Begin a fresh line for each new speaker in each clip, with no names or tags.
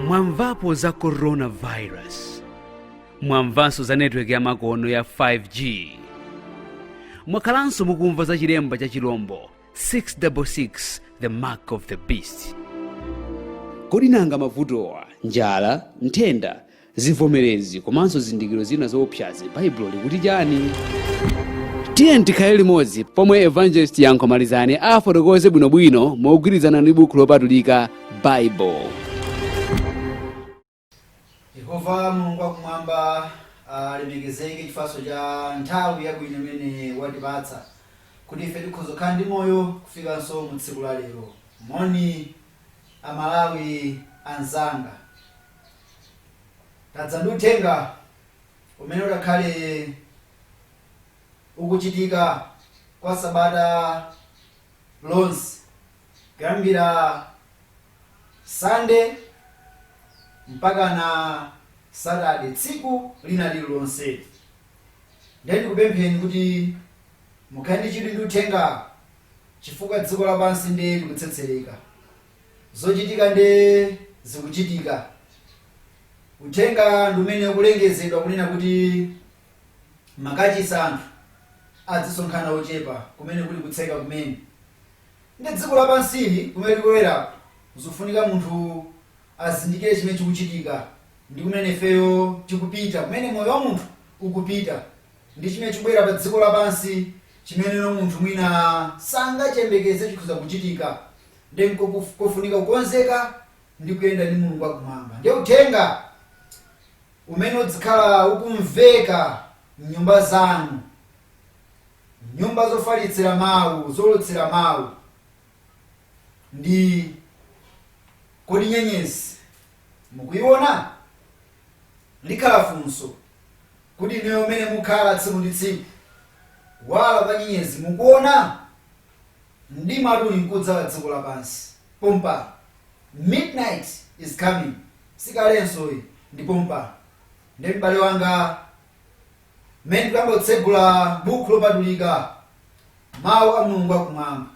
mwamvapo za coronavirus mwamvanso za netiweki yamakono ya 5g mwakhalanso mukumva za chilembo cha chilombo 666 the mark of the beast kodi nanga mavutowa njala nthenda Zivomerezi komanso zizindikiro zina zoopsazi, Baibulo likuti chani? Tiyeni tikhale limodzi pomwe Evangelist Yankho Malizani afotokoze bwinobwino mogwirizana ndi buku lopatulika Baibulo.
Yehova Mulungu wakumwamba alemekezeke chifukwa cha nthawi yabwino imene watipatsa kuti ife tikhoza kukhala ndi moyo kufikanso mu tsiku la lero. Moni Amalawi anzanga, tadza ndi uthenga umene udzakhale ukuchitika kwa sabata lonse kuyambira sande mpakana satade tsiku lina lililonse ndiye ndikupempheni kuti mukhale ndi chidwi ndi uthenga chifukwa dziko lapansi ndiye likutsetsereka Zochitika nde zikuchitika. Uthenga ndi umene ukulengezedwa kunena kuti makachisi anthu adzisonkhana ochepa kumene kuli kutseka kumene. Ndi dziko lapansili kumene tikuloweraku zikufunika munthu azindikire chimene chikuchitika ndi kumene ifeyo tikupita, kumene moyo wa munthu ukupita ndi chimene chikubwera pa dziko lapansi chimene munthu mwina sangachiyembekeze chikhoza kuchitika. Ndiye nkofunika kukonzeka ndi kuyenda ndi Mulungu wa Kumwamba. Ndiye uthenga umene udzikhala ukumveka m'nyumba zanu, nyumba zofalitsira mawu, zoulutsira mawu, ndi kodi nyenyezi mukuiona? Likhala funso kuti inuyo mmene mukhala tsiku ndi tsiku, kuwala kwa nyenyezi mukuona? Mdimatu uli nkudzala dziko lapansi pompano. Midnight is coming. Si kalenso yi, ndi pompa. Ndiye m'bale wanga, mmene tikuyamba kutsegula Bukhu Lopatulika, Mawu a Mulungu a Kumwamba,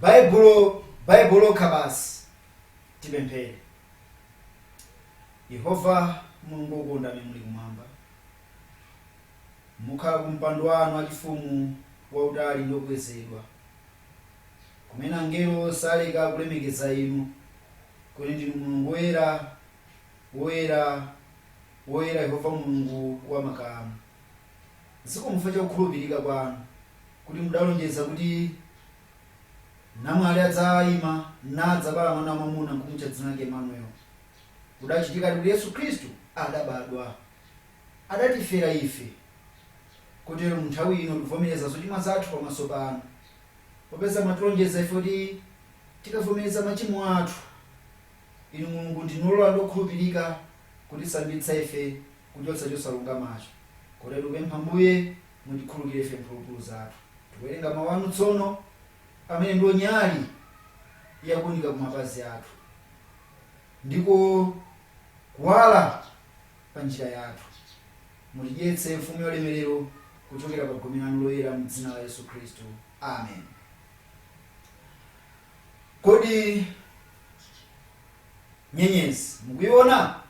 Baibulo, Baibulo lokha basi, tipemphere. Yehova Mulungu wokonda Amene muli Kumwamba. mukhala ku mpando wanu wachifumu wautali ndi wokwezedwa, kumene angelo saleka kulemekeza inu, kuti ndinu Mulungu woyera, woyera, woyera, Yehova Mulungu wa makamu. Zikomo chifukwa cha kukhulupirika kwanu, kuti mudalonjeza kuti namwali adzaima, nadzabala mwana wamwamuna, nkumutcha dzina lake Emmanuel. Kudachitikadi kuti Yesu Khristu adabadwa. adatifera ife, kotero, mu nthawi ino tikuvomereza zochimwa zathu pamaso panu, popeza mwatilonjeza ife kuti tikavomereza machimo athu, inu, Mulungu, ndinu ololora ndi okhulupirika kutisambitsa ife kuchotsa chosalungamacho, kotero tikupempha, Ambuye, mutikhululukire ife mphulupulu zathu. Tikuwerenga mawu anu tsono, amene ndiwo nyali younika kumapazi athu, ndiko kuwala. pa njira yathu. Mutidyetse Mfumu yaulemerero kuchokera pa gome lanu loyera mu dzina la Yesu Khristu. Amen. Kodi nyenyezi mukuiona?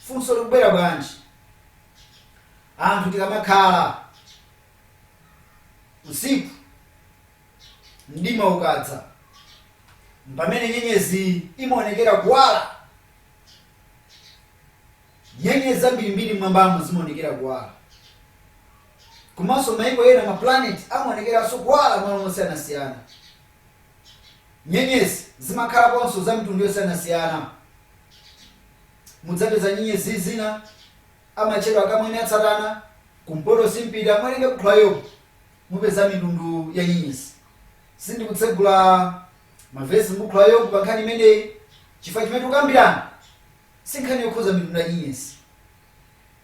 Funso likubwera bwanji? Anthu tikamakhala usiku mdima ukadza mpamene nyenyezi imaonekera kuwala Nyenyezi zambirimbiri m'mwambamo zimaonekera kuwala. Komanso mayiko ena, mapulaneti, amaonekeranso kuwala m'malo mosiyanasiyana. Nyenyezi zimakhalaponso za mitundu yosiyanasiyana. Mudzapeza nyenyezi zina amatcha Akamwiniatsatana, kumpoto simpita. Muwerenge buku la Yobu, mupeza mitundu ya nyenyezi. Sindikutsegula mavesi m'buku la Yobu pa nkhani imeneyi chifukwa chimene tikukambirana si nkhani yokhudza mitundu ya nyenyezi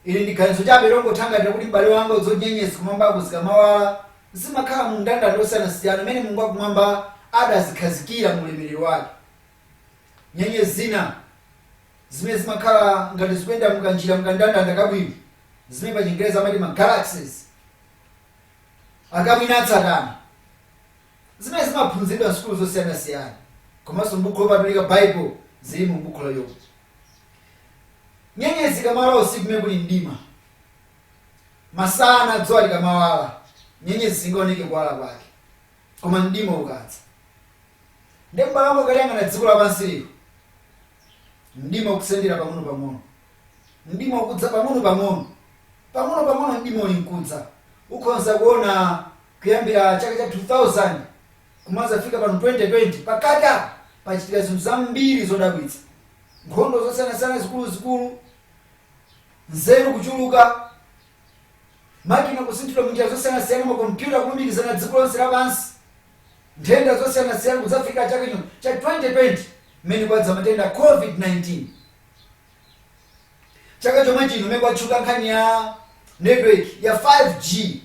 ili ndi ganizo chabe longothangatira kuti m'bale wanga nyenyezi kumwambako zikamawala zimakhala mu mndandanda osiyanasiyana umene mulungu wakumwamba adazikhazikira mu ulemerero wake nyenyezi zina zimene zimakhala ngati zikuyenda mukanjira mukandandanda kabwino zimene pa Chingerezi amati ma galaxies Akamwiniatsatana Zimene zimaphunziridwa m'sukulu zosiyanasiyana komanso m'buku lopatulika Baibo zili mu buku la Yobu. Nyenyezi ikamawala usiku pamene kuli mdima, masana dzuwa likamawala, nyenyezi singaoneke kuwala kwake. Koma mdima ukadza, ndiye m'bale wanga ukaliyang'ana dziko lapansi lino, mdima ukusendera pang'onopang'ono. mdima ukudza pang'ono pang'ono pang'ono pang'ono mdima uli mkudza ukhonza kuona kuyambira chaka cha 2000 kumazafika pano 2020 pakati apa pachitika zinthu zambiri zodabwitsa nkhondo zosiyanasiyana zikuluzikulu nzeru kuchuluka makina kusinthidwa munjira zosiyanasiyana makompyuta kulumikizana dziko lonse lapansi nthenda zosiyanasiyana kudzafika chaka chino cha 2020 mmene kwadza matenda a covid-19 chaka chomwe chino mmene kwatchuka nkhani ya network ya 5G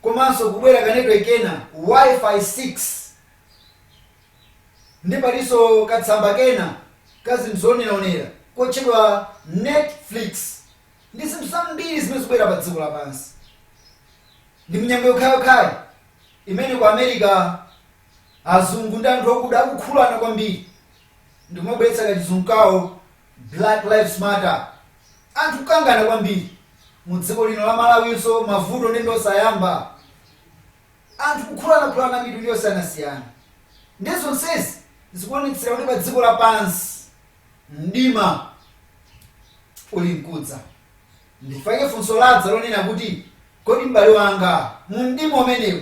komanso kubwera ka network kena wifi 6 ndi palinso katsamba kena kazinthu zooneraonera kotchedwa netflix ndi zinthu zambiri zimene zikubwera pa dziko lapansi ndi mnyengo yokhayokhayi imene ku america Azungu ndi anthu okuda akukhuulana kwambiri ndikumabweretsa kachizungu kawo black lives matter anthu kukangana kwambiri mudziko lino la malawinso mavuto nde ndiosayamba anthu kukhulanakhulana mitundu yosiyanasiyana nde zonsezi zikuonetsera kuti padziko lapansi mdima uli mkudza ndifake funso ladza lonena kuti kodi m'bale wanga mu mdima umenewu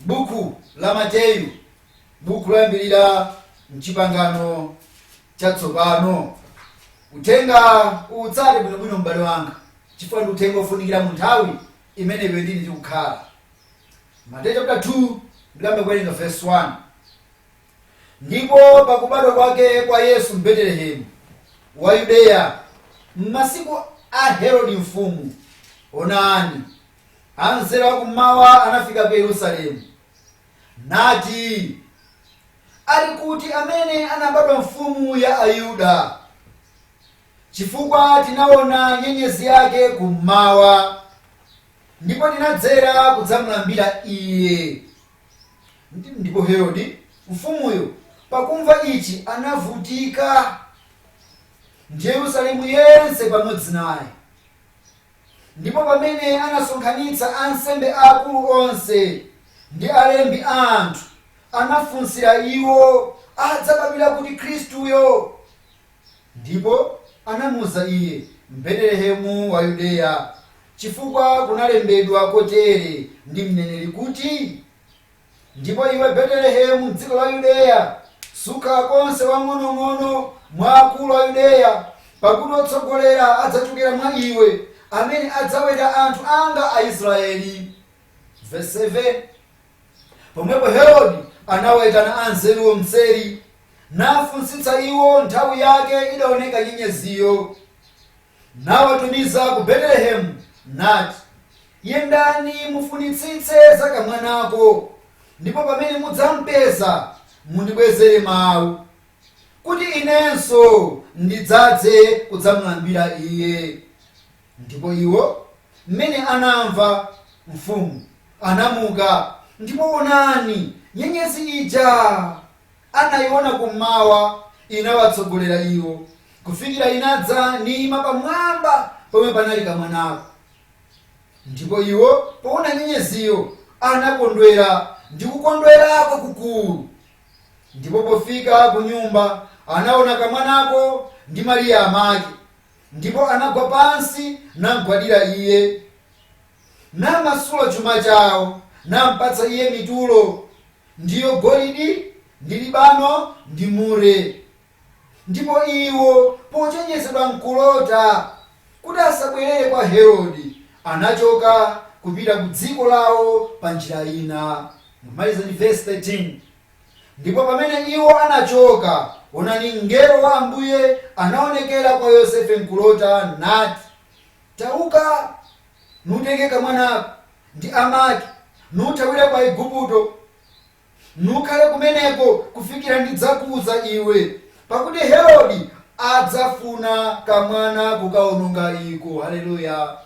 Buku la Mateyu, buku loyambirira m'Chipangano Chatsopano. Uthenga uwutsate bwinobwino m'bale wanga chifukwa ndi uthenga ofunikira mu nthawi imene iwe ndine tikukhala. Mateyu chapter 2 ndiyamba kuwerenga verse 1. Ndipo pakubadwa kwake kwa Yesu m'Betelehemu wa Yudeya m'masiku a Herodi mfumu, onani, Anzeru a kum'mawa anafika ku Yerusalemu, nati, Ali kuti amene anabadwa Mfumu ya Ayuda? Chifukwa tinaona nyenyezi yake kum'mawa, ndipo tinadzera kudzamulambira iye. Ndi- Ndipo Herodi mfumuyo, pakumva ichi, anavutika, ndi Yerusalemu yense pamodzi naye. Ndipo pamene anasonkhanitsa ansembe aakulu onse, ndi alembi a anthu, anafunsira iwo adzabadwira kuti Khristuyo. Ndipo anamuuza iye, M'Betelehemu wa Yudeya, chifukwa kunalembedwa kotere ndi mneneri kuti. Ndipo iwe Betelehemu m'dziko la Yudeya, sukhala konse wang'onong'ono mwa akulu a Yudeya, pakuti otsogolera adzatulukira mwa iwe, amene adzaweta anthu anga Aisrayeli. Vesi 7, Pomwepo Herode anawaitana anzeruwo m'tseri, nafunsitsa iwo nthawi yake idaoneka nyenyeziyo. nawatumiza ku Betelehemu, nati, Yendani mufunitsitse za kamwanako, ndipo pamene mudzampeza, mundibwezere mau, kuti inenso ndidzadze kudzamulambira iye. Ndipo iwo, mmene anamva mfumu, anamuka, ndipo onani, nyenyezi ija! anaiona kum'mawa, inawatsogolera iwo kufikira inadza niima pamwamba pomwe panali kamwanako. Ndipo iwo poona nyenyeziyo anakondwera ndi kukondwera kwakukulu. Ndipo pofika kunyumba anaona kamwanako ndi Mariya amake, ndipo anagwa pansi namgwadira iye. namasula chuma chao, nampatsa iye mitulo, ndiyo golidi, ndi libano, ndi mure. Ndipo iwo, pochenjezedwa m'kulota kuti asabwerere kwa Herode, anachoka kupita ku dziko lawo pa njira ina. Timalize ndi vesi 13. Ndipo pamene iwo anachoka, onani, mngelo wa Ambuye anaonekera kwa Yosefe m'kulota, nati, Tauka, nutenge kamwanako ndi amake, nuthawire ku Aigupto, nukhale kumeneko kufikira ndidzakuuza iwe, pakuti Herode adzafuna kamwana kukaononga iko. Haleluya!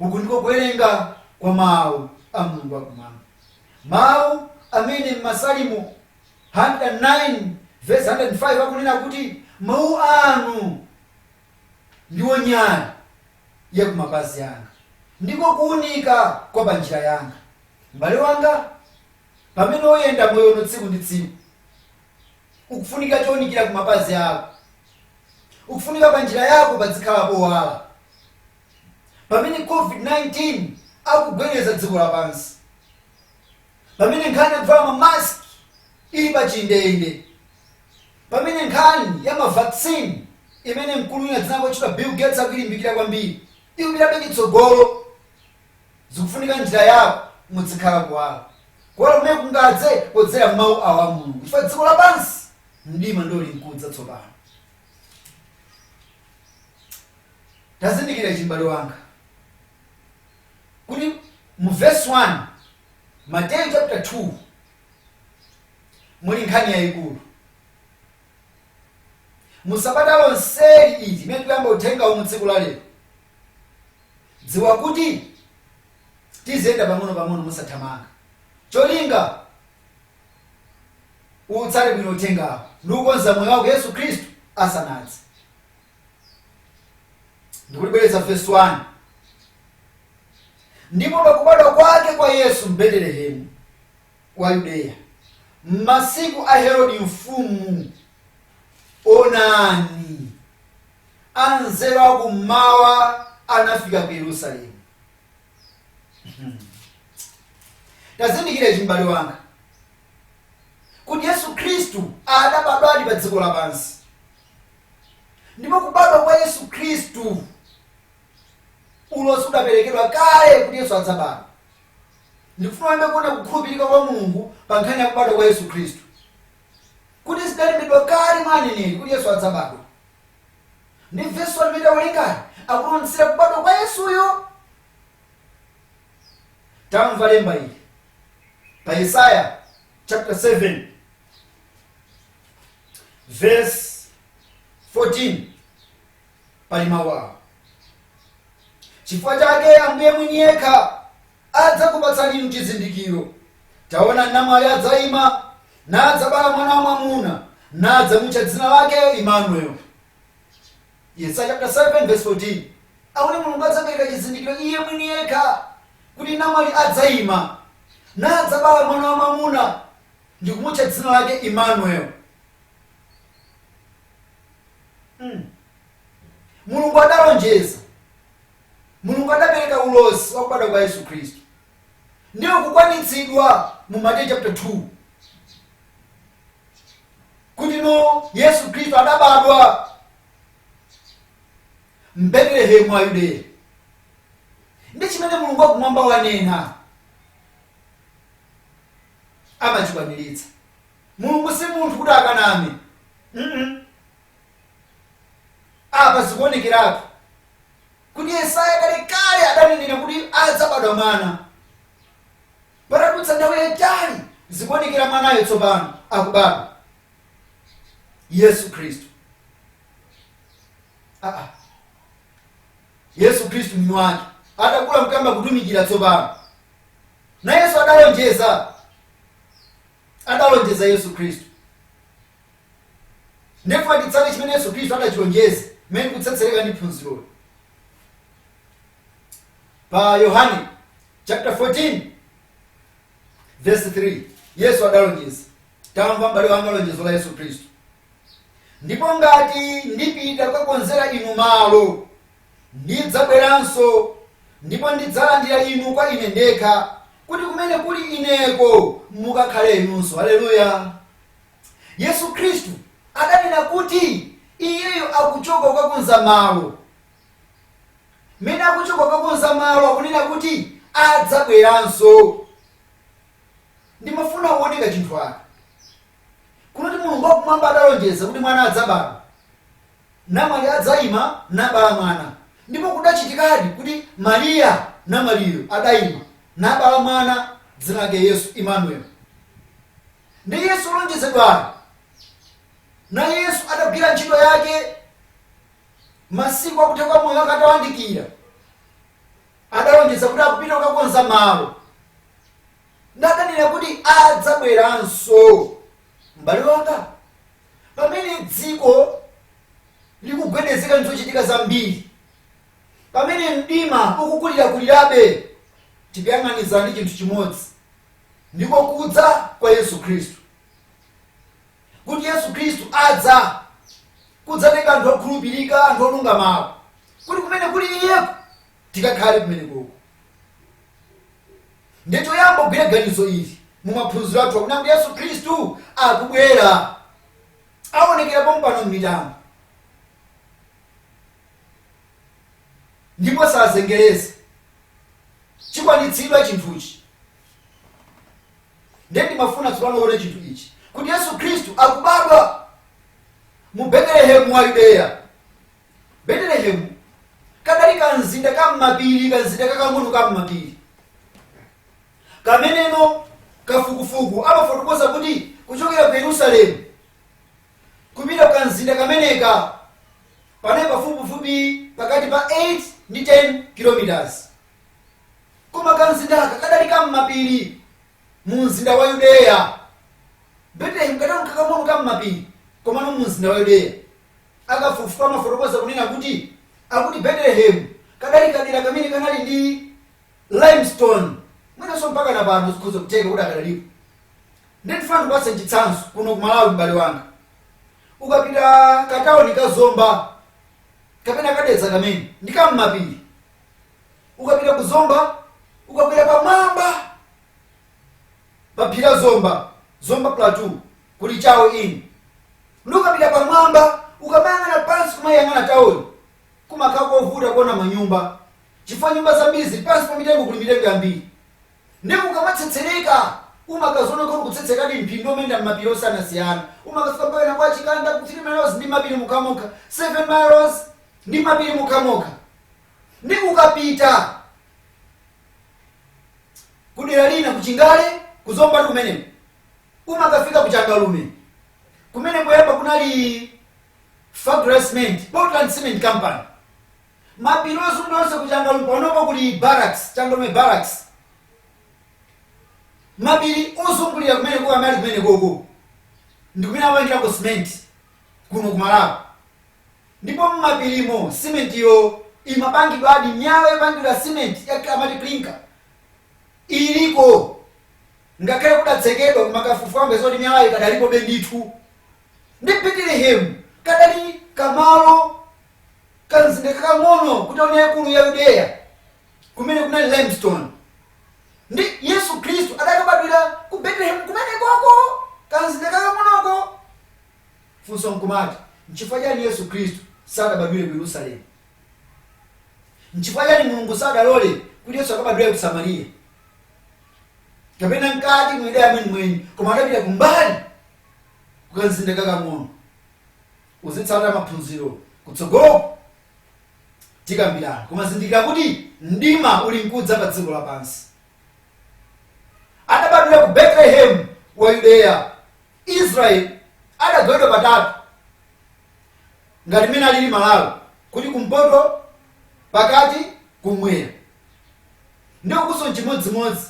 Uku ndiko kuwerenga kwa Mawu a Mulungu wakumwamba, Mawu amene m'Masalimo 109 vesi 105 akunena kuti, Mawu anu. ndiwo nyali ya ku mapazi yanga, ndiko kuunika kwa pa njira yanga. M'bale wanga, pamene uyenda moyo uno tsiku ndi tsiku, ukufunika chounikira ku mapazi ako. Ukufunika pa njira yako padzikhala powala. Pamene COVID-19 akugwedeza dziko lapansi, pamene nkhani yakuvala mamaski ili pa chindende, pamene nkhani ya ma vaccine imene mkulu wina dzina lake lotchedwa Bill Gates akuilimbikira kwambiri ikupitabe chitsogolo. Zikufunika njira yako mudzikhala kuwala. Kuwala kumene kungadze podzera m'mawu awa a Mulungu chifukwa dziko lapansi mdima ndio ulinkudza tsopano. Tazindikira ichi m'bale wanga kuti mu verse 1 Mateyu chapter 2 muli nkhani yayikulu mu sabata lonseli ili limene tikuyamba uthenga uwu tsiku la lero dziwa kuti tiziyenda pang'ono pang'ono musathamanga cholinga utsate bwino uthengawu ndi kukonza moyo wako yesu khristu asanadze ndikulibwereza vesi 1 ndipo pakubadwa kwake kwa yesu m'betelehemu wa yudeya m'masiku a herodi mfumu onani anzeru akummawa anafika ku yerusalemu tazindikira ichi m'bale wanga kuti yesu khristu adabadwadi pa dziko lapansi ndipo kubadwa kwa yesu khristu ulosi udaperekedwa kale kuti yesu adzabadwa ndikufuna uyambe kuona kukhulupirika kwa mulungu pa nkhani ya kubadwa kwa yesu khristu kuti zidalembedwa kale mwa aneneri kuti yesu adzabadwa ndi vesi limene tawerengali likuonetsera kubadwa kwa yesuyo tamva lemba ili pa yesaya chapter 7 vesi 14 pali mawu awa chifukwa chake ambuye mwini yekha adzakupatsani inu chizindikiro taona namwali adzayima nadzabala mwana wa mwamuna nadzamutcha dzina lake imanueli yesaya chapter 7 verse 14 akuti mulungu adzapereka chizindikiro iye mwini yekha kuti namwali adzayima nadzabala mwana wa mwamuna ndikumutcha dzina lake Emmanuel. Mulungu adalonjeza, Mulungu adapereka ulosi wa kubadwa kwa Yesu Khristu ndiye ukukwanitsidwa mu Mateyu chapter 2 kuti no Yesu Khristu adabadwa m'Betelehemu wa Yudeya ndi chimene Mulungu wakumwamba wanena amachikwaniritsa. Mulungu si munthu kuti akaname. mm Apa zikuonekeratu kuti Yesaya kalekale adanenera kuti adzabadwa mwana. Patadutsa nthawi yaitali zikuonekera mwanayo tsopano akubadwa, Yesu Khristu. Aa, Yesu Khristu mwini wake atakula mkuyamba kutumikira tsopano. Nayenso adalonjeza, adalonjeza Yesu Khristu. Ndiye ndifuna titsate chimene Yesu Khristu adachilonjeza, mmene tikutsetsereka ndi phunziroli. Pa Yohane chapter 14 verse 3 Yesu adalonjeza, tamva m'bale wanga lonjezo la Yesu Khristu, ndipo ngati ndipita kukakonzera inu malo ndidzabweranso, ndipo ndidzalandira inu kwa ine ndekha, kuti kumene kuli ineko mukakhale inunso. Aleluya! Yesu Khristu adanena kuti iyeyo akuchoka kukakonza malo. Mmene akuchoka kukakonza malo akunena kuti adzabweranso. Ndimafuna uone kachinthu aka. Kunoti Mulungu wakumwamba adalonjeza kuti mwana adzabadwa. namwali adzaima, nabala mwana. Ndipo kudachitikadi kuti Mariya namwaliyo adaima, nabala mwana, dzina lake Yesu, Imanueli. Ndiye Yesu wolonjezedwayo. Naye Yesu adagwira ntchito yake masiku akutha kwa moyo wake atawandikira, adalonjeza kuti akupita kukakonza malo. ndipo akunena kuti adzabweranso m'bale wanga pamene dziko likugwedezeka ndizochitika zambiri pamene mdima ukukulirakulirabe tikuyang'aniza ndi chinthu chimodzi ndiko kudza kwa yesu khristu kuti yesu khristu adza kudzatenga anthu okhulupirika anthu olungamawo kuti kumene kuli iyeko tikakhale kumeneko ndiye choyamba ugwire ganizo ili mu maphunziro athu akuti yesu khristu akubwera aonekera pompano m'mitambo ndipo sazengereza chikwanitsidwa chinthuchi ndiye ndimafuna tsopano uone chinthu ichi kuti yesu khristu akubadwa mu betelehemu wa yudeya Betelehemu kadali kamzinda kam'mapiri kamzinda kakang'ono kam'mapiri kameneko akafukufuku amafotokoza kuti kuchokera ku yerusalemu kupita kukamzinda kameneka panali pafupifupi pakati pa 8 ndi 10 kilometers koma kamzindaka kadali kam'mapiri mu mzinda wa yudeya betelehemu kadali kakang'ono kam'mapiri komano mu mzinda wa yudeya Akafukufuku amafotokoza kunena kuti akuti Betelehemu kadali kadera kamene kanali ndi limestone mwinanso mpakana pano zikhoza kutheka kuti ikadalipo nde ndifuna ndikupatse chitsanzo kuno ku malawi m'bale wanga ukapita katawuni ka zomba kapena ka dedza kamene ndi kam'mapiri ukapita ku zomba ukakwera pamwamba pa phiri la zomba zomba plateau kuli chawe inn nde ukapita pamwamba ukamayang'ana pansi kumayang'ana taoni kumakhala kovuta kuona manyumba chifukwa nyumba zambiri zili pansi pa mitengo kuli mitengo yambiri ndiye ukamatsetsereka umakaziona kuti ukutsetserekadi ndithu kumayenda mmapiri osiyanasiyana umakafika mpaka kwa chikanda ku 3 miles ndi mapiri okhaokha 7 miles ndi mapiri okhaokha nde ukapita kudera lina kuchingale kuzombatu kumeneko umakafika kuchangalume kumene poyamba kunali fabra cement portland cement company mapiri ozungulira onse kuchangalume panopo kuli barracks changalume barracks mapiri ozungulira kumeneko ali kumenekoko ndikumene amapangirako cement kuno kumalawi Ndipo mmapirimo simentiyo imapangidwadi, miyala yopangira simenti ija amati clinker iliko, ngakhale kudatsekedwa, koma akafufuza apeza zoti miyalayo ikadalipobe ndithu. Nde Betelehemu kadali kamalo, kamzinda kakang'ono ku tauni yaikulu ya Yudeya kumene kunali limestone. Nde Yesu Khristu adakabadwira ku Betelehemu kumenekoko, kamzinda kakang'onoko. Funso nkumati, nchifukwa chani Yesu Khristu sadabadwire ku Yerusalemu? Nchifukwa chani Mulungu sadalole kuti Yesu akabadwire ku Samariya? Kapena mkati mu Yudeya mwenimweni, koma adapita kumbali kukamzinda kakang'ono? Uzitsatira maphunziro kutsogoloku tikambirana, koma zindikira kuti mdima uli nkudza pa dziko lapansi. Adabadwira ku Betelehemu wa Yudeya. Israel adagawidwa patatu ngati mmene alili Malawi kuli kumpoto, pakati, kummwera nde ukonso nchimodzimodzi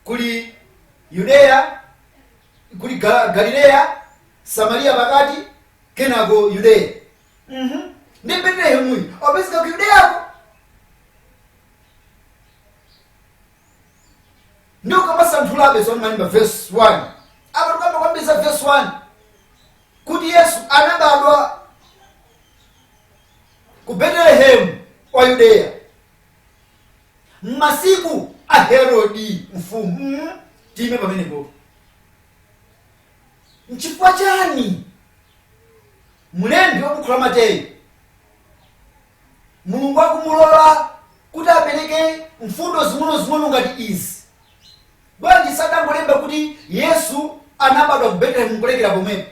kuli Yudeya kuli Ga Galileya, Samaliya pakati kenako Yudeya mmh nde Betelehemuyu akupezeka ku Yudeyako? nde ukamasanthulabe zomwe malemba vesi 1 apa tikamba kwambiri za vesi 1 kuti yesu anabadwa ku betelehemu wa yudeya m'masiku a herodi mfumu mm, tiime pamenepo nchifukwa chani mlembi wa bukhu la mateyu mulungu akumulola kuti apereke mfundo zing'onozing'ono ngati izi bwanji sadangolemba kuti yesu anabadwa ku betelehemu nkulekera pomwepo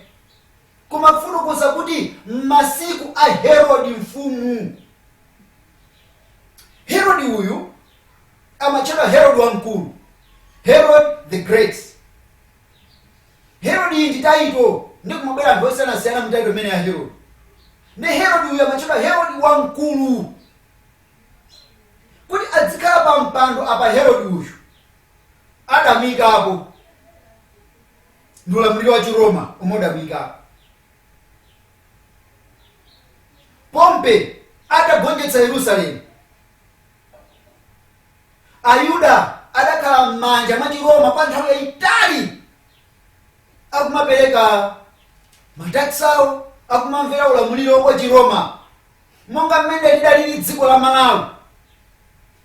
koma kufotokoza kuti m'masiku a herodi mfumu herodi uyu amatchedwa herodi wamkulu herod the great Herod iyi ndi title nde kumabwera anthu osiyanasiyana mu title imeneyi ya Herod nde Herod uyu amatchedwa Herod wamkulu kuti adzikhala pa mpando apa Herod uyu adamuyikapo ndi ulamuliro wa Chiroma omwe udamuyikapo Pompe atagonjetsa Yerusalemu Ayuda adakhala m'manja mwa Chiroma kwa nthawi yayitali akumapereka mataksawo akumamvera ulamuliro wa Chiroma monga mmene lidalili dziko la Malawi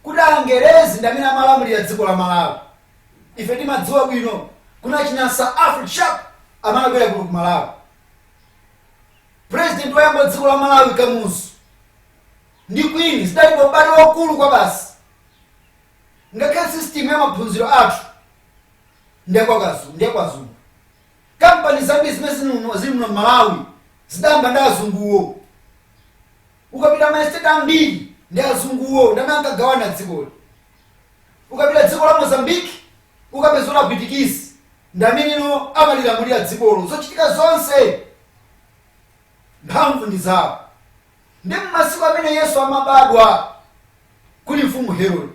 kuti angerezi ndi amene amalamulira dziko la Malawi ife timadziwa bwino kuna achina Sir Alfred Sharp amene anabwera kuno ku Malawi president woyamba wa dziko la Malawi Kamuzu ndi Queen zidali pa ubale waukulu kwabasi. Ngakhale system ya maphunziro athu ndi ya kwa azungu. Kampani zambiri zimene zili muno m'Malawi zidayamba ndi azunguwo. Ukapita ma estate ambiri ndi azunguwo ndi amene ankagawana dzikoli. Ukapita dziko la Mozambique ukapezano Apwitikizi ndi amenewo amalilamulira dzikolo. Zochitika zonse mphamvu ndi zawo. Ndiye m'masiku amene Yesu amabadwa, kuli mfumu Herode.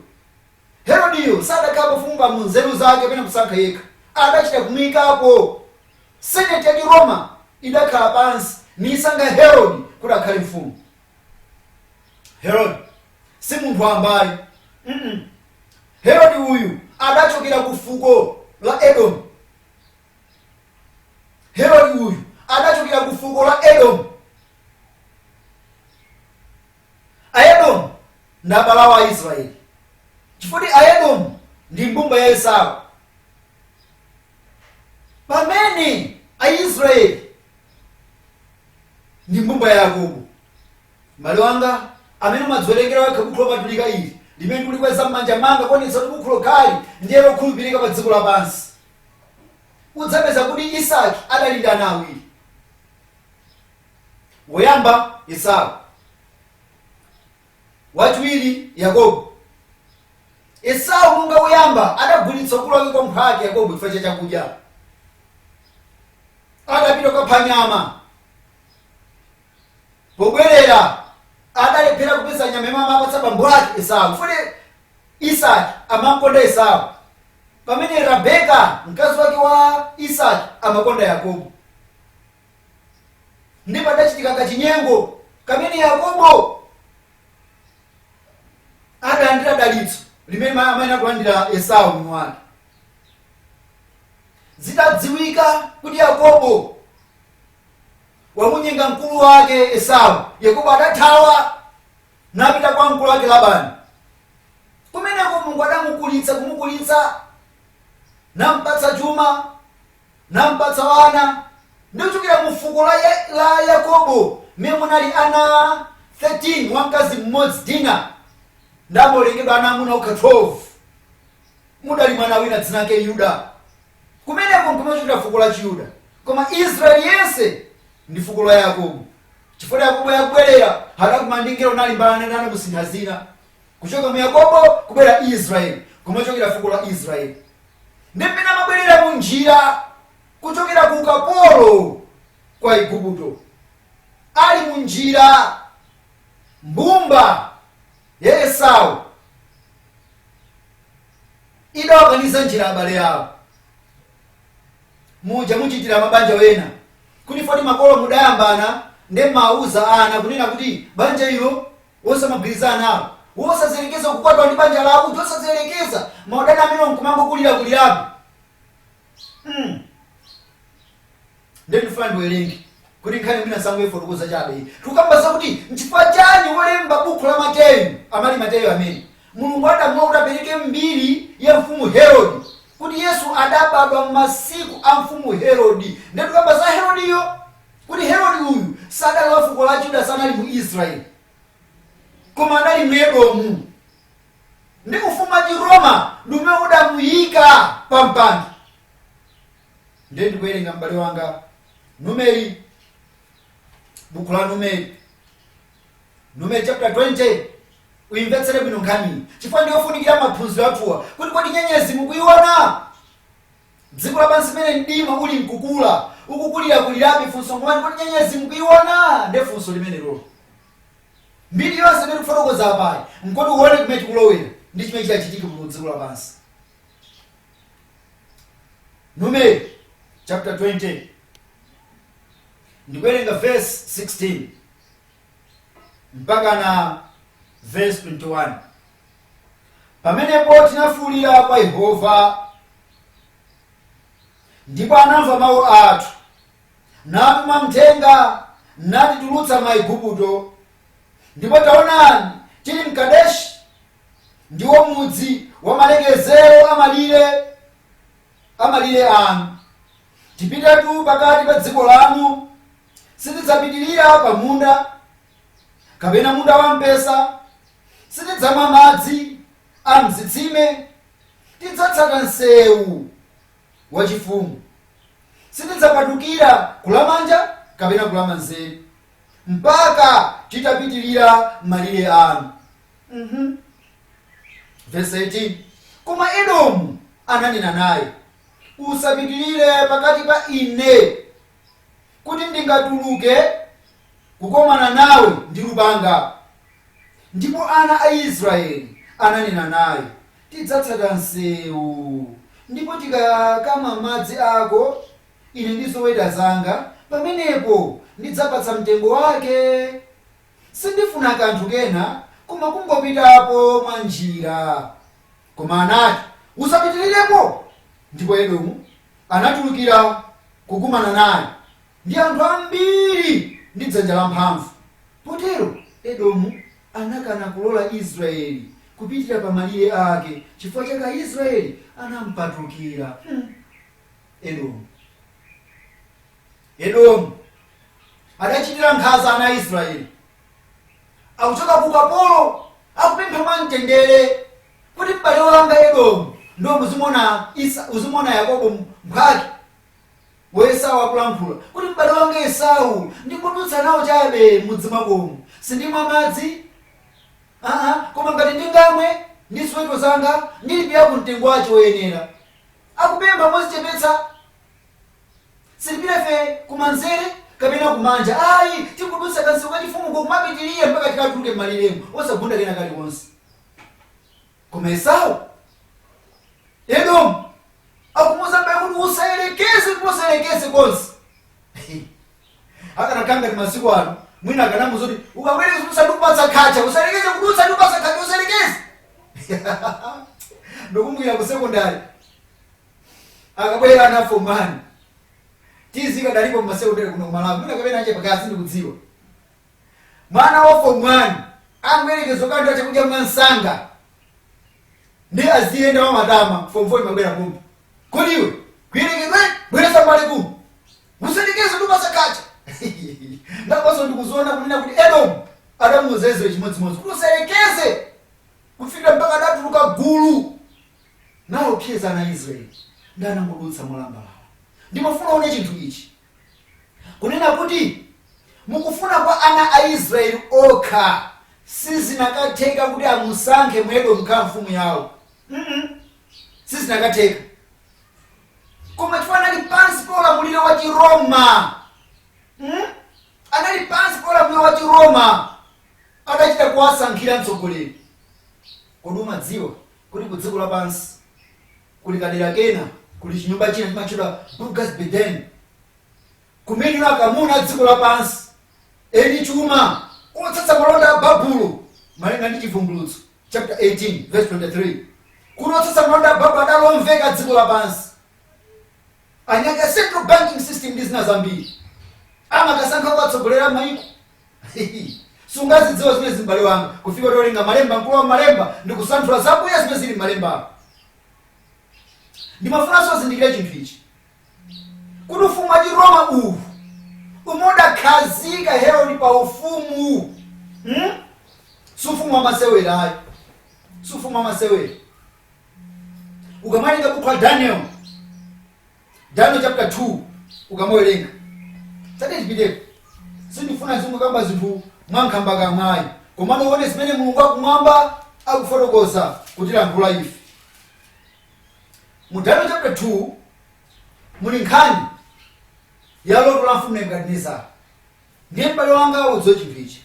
Herodiyo sadakhale mfumu pa mu nzeru zake kapena kusankha yekha, adachita kumuikapo. Senate ya Chiroma idakhala pansi niisankha Herode kuti akhale mfumu. Herode si munthu wambayi mm Herode uyu adachokera ku fuko la Edomu. Herode uyu adachokera ku fuko la Edomu. Aedomu ndi abale awo Aisrayeli, chifukwa kuti Aedomu ndi mbumba ya Esau. Pamene Aisrayeli ndi mbumba ya Yakobo. M'bale wanga, amene umadziwerengera wekha bukhu lopatulika ili, limene ndikulikweza m'manja manga kuonetsa kuti bukhu lokhali ndiye lokhulupirika pa dziko lapansi, udzapeza kuti Isaki adali ndi ana awiri. woyamba esau wachiwiri yakobo esau monga woyamba adagulitsa ukulu wake kwa mphwake yakobo chifukwa cha chakudya adapita kukapha nyama pobwerera adalephera kupeza nyama imene amapatsa bambo ake esau chifukwa isaki amamkonda esau pamene Rabeka, mkazi wake wa Isaki, amakonda Yakobo. Ndi padachitika kachinyengo kamene Yakobo adalandira dalitso limene amayenera kulandira Esau mwini wake. Zitadziwika kuti Yakobo wamunyenga mkulu wake Esau, Yakobo adathawa napita kwa mkulu wake Labani. Kumeneko Mulungu adamukulitsa kumukulitsa, nampatsa chuma, nampatsa wana, ndi kuchokera mu fuko la, ya, la Yakobo mmene munali ana 13 wa mkazi mmodzi Dina, nde amawerengedwa ana amuna okha 12 mudali mwana wina dzina lake Yuda. Kumeneko nkumachokera fuko la Chiyuda. Koma Israeli yense ndi fuko la Yakobo. Chifukwa Yakobo yakubwerera adakumana ndi mngelo nalimbana naye namusintha dzina. Kuchoka mu Yakobo kubwera Israeli kumachokera fuko la Israeli. Ndi mmene amabwerera mu njira kuchokera ku ukapolo kwa Igupto. Ali mu njira mbumba ya Esau idawakaniza njira abale awo muja muchitira mabanja wena kuti poti makolo mudayambana nde mumawuza ana kunena kuti banja ilo wosamagwirizana nawo wosayerekeza kukwatwa ndi banja lawo kuti osayerekeza maudani amene nkumangokulirakulirapo mm nde ndifuna ndiwerenge kuti nkhani mwina sangoifotokoza chabe iyi tikukamba zakuti nchifukwa chani wolemba buku la mateyu amati mateyu amene mulungu adamlola kuti apereke mbiri ya mfumu herodi kuti yesu adabadwa m'masiku a mfumu herodi nde tikukamba za herodiyo kuti herodi uyu sadali wa fuko la yuda sanali mu israeli koma anali mu edomu ndi ufumu wa Chiroma ndi umene udamuyika pa mpando. Ndiye ndikuwerenga m'bale wanga Numeri, buku la Numeri, Numeri chapter 20 uyimvetsere bwino nkhaniyi chifukwa ndiyofunikira maphunziro athuwa kuti kodi nyenyezi mukuyiona dziko lapansi mene mdima uli mkukula ukukulirakulirabe funso ngomati kodi nyenyezi mukuyiona nde funso limenelolo Mbiri yonse imene tikufotokoza apayi n'koti uwone kumene tikulowera ndi chimene chidzachitike mu dziko lapansi. Numeri chapter 20 ndikuwerenga verse 16 mpaka na verse 21 pamenepo tinafuulira kwa yehova ndipo anamva mawu athu natuma mthenga natitulutsa m'Aigupto, ndipo taonani, tili m'Kadeshi, ndiwo mudzi wa malekezero a malire a malire anu. Tipitatu pakati pa dziko lanu, sitidzapitirira pa munda, kapena munda wampesa, sitidzamwa madzi a m'zitsime, tidzatsata msewu wachifumu. Sitidzapatukira kulamanja kapena kulamanzere mpaka titapitirira malire anu. Mm -hmm. Verse 18. Koma Edomu ananena naye, usapitirire pakati pa ine kuti ndingatuluke kukomana nawe ndi lupanga. Ndipo ana a Israeli ananena naye, Tidzatsata msewu. Ndipo tikakamwa madzi ako, ine ndi zoweta zanga, pamenepo ndidzapatsa mtengo wake. Sindifuna kanthu kena koma kungopitapo mwa njira. Koma anati, Usapitirirepo! Ndipo Edomu anatulukira kukumana naye. ndi anthu ambiri ndi dzanja lamphamvu. Potero Edomu anakana kulola Israyeli kupitira pa malire ake, chifukwa chake Aisrayeli anampatukira. Hmm. Edomu. Edomu adachitira nkhanza ana a Israeli. Akuchoka ku ukapolo akupempha mwamtendere kuti m'bale wanga Edomu ndiye uzimona Esa- uzimona Yakobo mphwake wa Esau akulankhula kuti, M'bale wanga Esau, ndingodutsa nawo chabe m'mudzi mwakomu. Sindimwa madzi, aa, koma ngati ndingamwe ndi ziweto zanga, ndilipira mtengo wache woyenera. Akupempha mozichepetsa. Sitipita ife kumanzere kapena kumanja ayi, tingodutsa kansewu kachifumuko kumapitirira mpaka tikatuluke m'maliremu, osagunda kena kalikonse. koma esau edomu akumuuza m'bale wake kuti usayerekeze kuti usayerekeze konse akanakhala ngati masiku ano mwina akanamuuza kuti ukayerekeza kudutsa ndikupatsa khacha usayerekeze kudutsa ndikupatsa khacha usayerekeze ndikumbukira ku sekondari akakabwera ana form one tizing idalipo mmasekondari kuno kumalawi mwina kapena nje pakali pano sindikudziwa mwana wa form 1 angoyerekeza kulandira chakudya mwansanga ndi aziyenda mwamatama form 4 imabwera kumbi kodi iwe kuyerekedwa bweresa mbali kumbi usayerekeze ndikupatsa khacha ndiye panonso ndikuziona kunena kuti edomu adamuuza israeli chimodzimodzi kuti usayerekeze kufikira mpaka adatuluka gulu naopseza ana israeli ndiye anangodutsa molambalala ndimafuna uone chinthu ichi Kunena kuti mukufuna kwa ana a Israeli okha sizinakatheka kuti amusankhe Mwedomu kukhala mfumu yawo. Mm sizinakatheka. Koma chifukwa anali pansi pa ulamuliro wa Chiroma. Mm? Anali pansi pa ulamuliro wa Chiroma adachita kuwasankhira mtsogoleri. Kodi umadziwa kuti ku dziko lapansi kuli kadera kena, kuli chinyumba china chimatchedwa Burgas Beden, kumene akamuna a dziko lapansi eni chuma otsatsa malonda a Babulo malinga ndi Chivumbulutso chapter 18 verse 23 kuti otsatsa malonda a Babulo adali omveka dziko lapansi anyamata a central banking system ndi zina zambiri amakasankha kuwatsogolera maiko sungazidziwe zimenezi m'bale wanga kufikira utawerenga malemba mkulu wa malemba ndi kusanthula zakuya zimene zili m'malemba ndimafunanso uzindikire chinthu ichi kuti ufumu wa chiroma uwu umene udakhazika herode pa ufumu hmm? si ufumu wa masewera ayi si ufumu wa masewera ukamawerenga bukhu la daniel Daniel chapter 2 ukamawerenga tatiyeni tipiteko sindifuna zingokamba zinthu mwankhambakamwayi komano uone zimene mulungu wakumwamba akufotokoza kutiyankhula ife mu daniel chapter 2 muli nkhani ya loto la mfumu nebukadinezara ndiye m'bale wanga udziwe chinthu ichi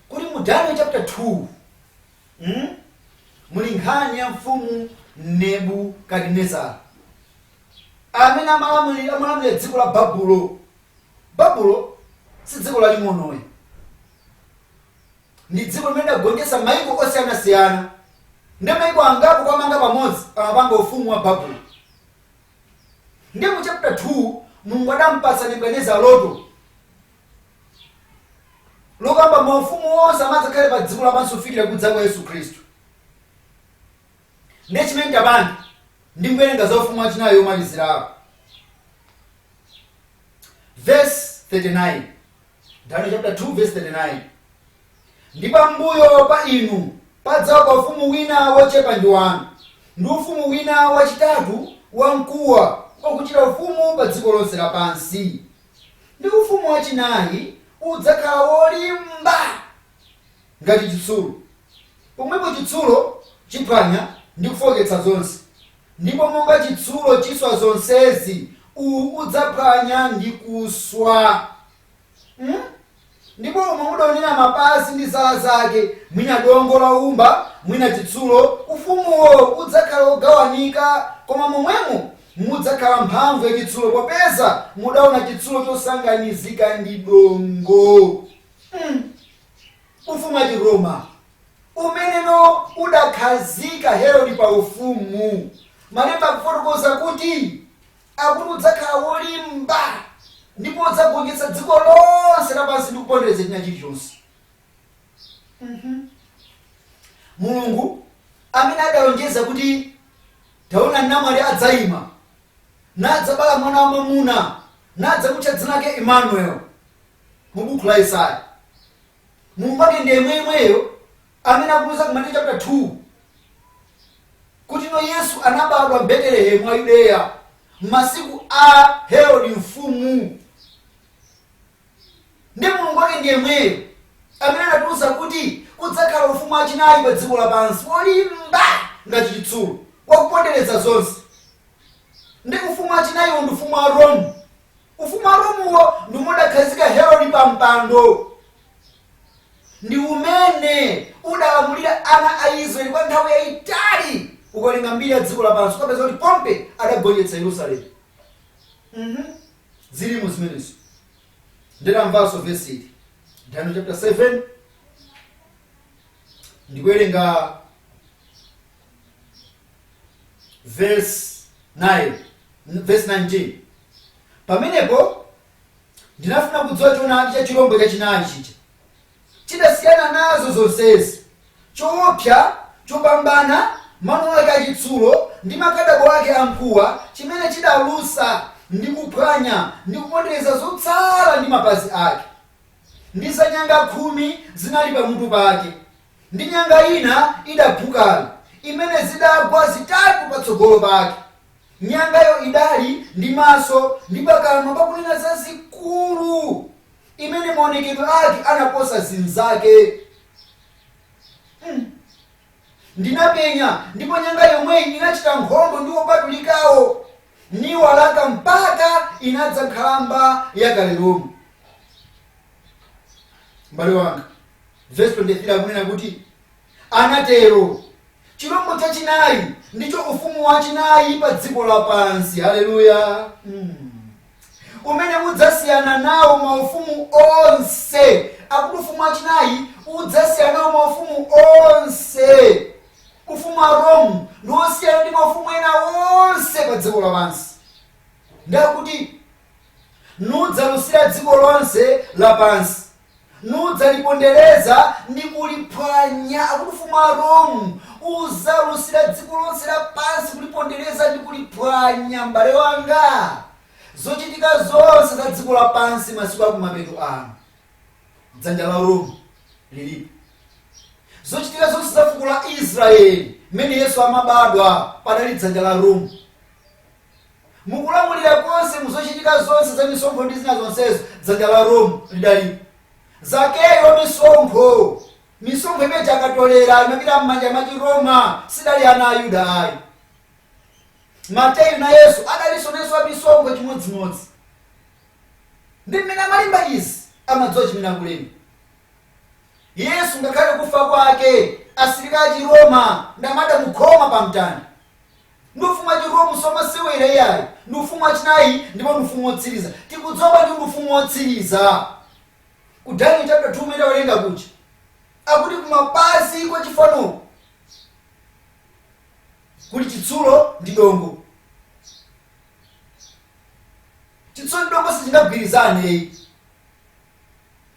kuti mu daniel chapter 2 umu muli nkhani ya mfumu Nebukadinezara amene amalamulira amalamulira dziko la Babulo. Babulo si dziko laling'ono ayi, ndi dziko limene lidagonjetsa maiko osiyanasiyana ndi maiko angapo kuwamanga pamodzi amapanga ufumu wa Babulo. Ndiye mu chapter 2 Mulungu adampatsa Nebukadineza loto lokamba maufumu onse amene adzakhale pa dziko lapansi kufikira kudza kwa Yesu Khristu. Ndiye chimene tapanga ndi kuwerenga za ufumu wachinayi womalizirako. Verse 39. Daniel chapter 2 verse 39. Ndi pambuyo pa inu padzauka ufumu wina wochepa ndi wanu, ndi ufumu wina wachitatu wamkuwa wakuchita ufumu pa dziko lonse lapansi, ndi ufumu wachinayi udzakhala wolimba ngati chitsulo, popeza chitsulo chiphwanya ndi kufooketsa zonse, ndipo monga chitsulo chiswa zonsezi, uwu udzaphwanya ndi kuswa. Hmm? ndipo umo mudaonera mapazi ndi zala zake mwina dongo la woumba mwina chitsulo ufumuwo udzakhala wogawanika koma momwemo mudzakhala mphamvu ya chitsulo popeza mudaona chitsulo chosanganizika ndi dongo Mm. ufumu wa chiroma umene uno udakhazika herodi pa ufumu malemba akufotokoza kuti Akuti udzakhala wolimba ndipo udzagonjetsa dziko lonse lapansi ndi kupondereza china chilichonse. Mhm. Mulungu amene adalonjeza kuti taona namwali adzaima nadzabala mwana wa mwamuna nadzamutcha dzina lake Emmanuel mu buku la Yesaya. Mulungu wake ndi yemweyemweyo amene akutiuza ku Mateyu chapter 2 kuti ino yesu anabadwa mbetelehemu wa yudeya m'masiku a herodi mfumu ndi mulungu wake ndi yemweyo amene anatiuza kuti kudzakhala ufumu wachinayi pa dziko lapansi wolimba ngati chitsulo wakupondereza zonse ndi ufumu wachinayiwo ndi ufumu wa rome Ufumu wa Romuwo ndi umene udakhazika Herode pa mpando, ndi umene udalamulira ana a Israeli kwa nthawi yayitali. Ukawerenga mbiri ya dziko lapansi ukapeza kuti Pompe adagonjetsa Yerusalemu. Mhm. Zilimo zimenezo. Nditamvanso vesi ili. Daniel chapter 7 ndikuwerenga verse 9, verse 19 pamenepo ndinafuna kudziwa choonadi cha chilombo chachinayi chija chidasiyana nazo zonsezi choopsa chopambana mano ake achitsulo ndi makadabo ake amkuwa chimene chidalusa ndi kuphwanya ndi kupondereza zotsala ndi mapazi ake ndi zanyanga khumi zinali pamutu pake Ndi nyanga ina idaphukayo, imene zidagwa zitatu patsogolo pake, nyangayo idali ndi maso ndi pakamwa pakunena zazikulu, imene maonekedwe ake anaposa zinzake. Hmm. Ndinapenya, ndipo nyanga yomweyi inachita nkhondo ndi opatulikawo, niwalaka mpaka inadza nkhalamba ya kale lomwe. M'bale wanga. Vesi 23 akunena kuti anatero. Chirombo chachinayi ndicho ufumu wachinayi pa dziko lapansi. Haleluya! Mm. umene udzasiyana nawo maufumu onse akuti ufumu wachinayi udzasiyana nawo maufumu onse ufumu wa rome ndi wosiyana ndi maufumu ena onse pa dziko lapansi ndakuti nudzalusira dziko lonse lapansi nudzalipondereza ndi kuliphwanya akuti ufumu wa rome uzalusira dziko lonse lapansi kulipondereza ndi kuliphwanya m'bale wanga zochitika zonse za dziko lapansi masiku akumapeto ano dzanja la rome lilipo zochitika zonse za fuko la israeli mmene yesu amabadwa padali dzanja la rome Mu kulamulira konse, mu zochitika zonse za misonkho ndi zina zonsezo, dzanja la Rome lidalipo. Zakeyo wa misonkho, misonkho imene ija akatolera imapita m'manja mwa Chiroma, sidali ana a Yuda ayi. Mateyu nayenso adalinso nayenso wa misonkho chimodzimodzi. Ndi mmene amalemba izi, amadziwa chimene akulemba. Yesu ngakhale kufa kwake, asilikali a Chiroma ndamadamukhoma pa mtanda. Ndi ufumu wa chi Rome somasewera iyayi. Ndi ufumu wa chinayi ndipo ndi ufumu wotsiriza. Tikudziwa ndi ufumu wotsiriza? Ku Daniel chapter 2 kumene tawerenga kuja. Akuti kumapazi kwa chifanoku kuli chitsulo ndi dongo. Chitsulo ndi dongo sichingagwirizane ayi.